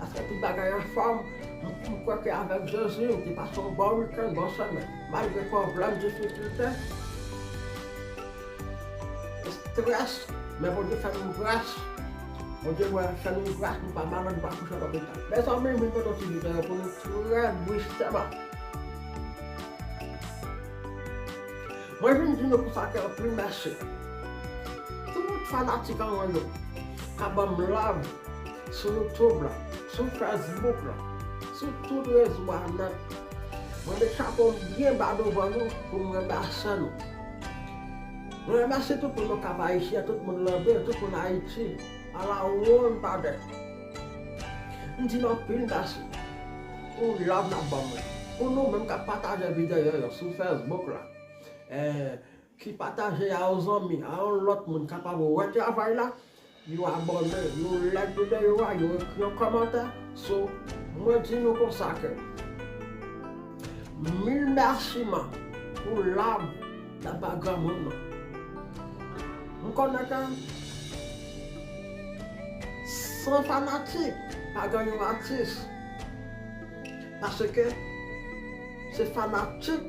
Paske tout bagay anfòm, m kwè ke avèk Jezi m te pase yon bon wikenn, bon semèn. Malgre pwoblèm, difikilte, estrès, men Bondye fè nou gras. Bondye wè l, fè nou gras, nou pa malad, nou pa kouche lopital. Mezanmi, m vin pote yon ti videyo pou nou trè bwuskeman. Mwen vin di nou konsa ke anpil mèsi. Tout fanatik an mwen yo, kap banm love. sou YouTube la, sou Facebook la, sou tout rezo a nèt. Mwen met chapo m byen ba douvan nou pou m remèsye nou. Mwen remèsye tout moun nan Kap Ayisyen, tout moun Lanmè, tout moun Ayiti, ala wonn pa dèt. M di nou anpil mèsi pou love nap banm lan, pou nou menm kap pataje videyo yo sou Facebook la, Ki pataje a yon zanmi, a yon lòt moun kapab wè travay la, yo abòne, yo like videyo a, yo ekri yon kòmantè, so mwen di nou konsa ke mil mèsi man pou love nap bay granmoun nan. M konnen ke san fanatik pa gen yon atis, paske se fanatik.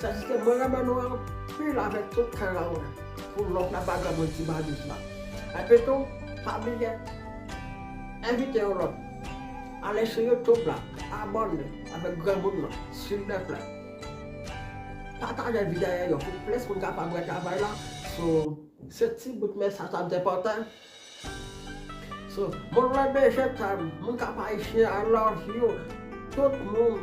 Sa jiske mwen renmen nou anpil avèk tout kè a mwen pou love la pa janm redi Baliz la epi tou pa bliye envite yon lòt ale sou YouTube la abòne avèk granmoun nan silvèplè pataje videyo pou plis moun kapab wè travay la sou se ti bout mesaj sa m te pote. Sou Moun lè bejè tèl Moun kap ayisyen I love you tout Moun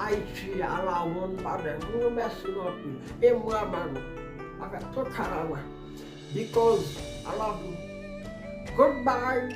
ayiti ala Moun badè Moun yo mèsi nou anpil e mwen renmen nou avèk tout kara mwen because I love you good bye.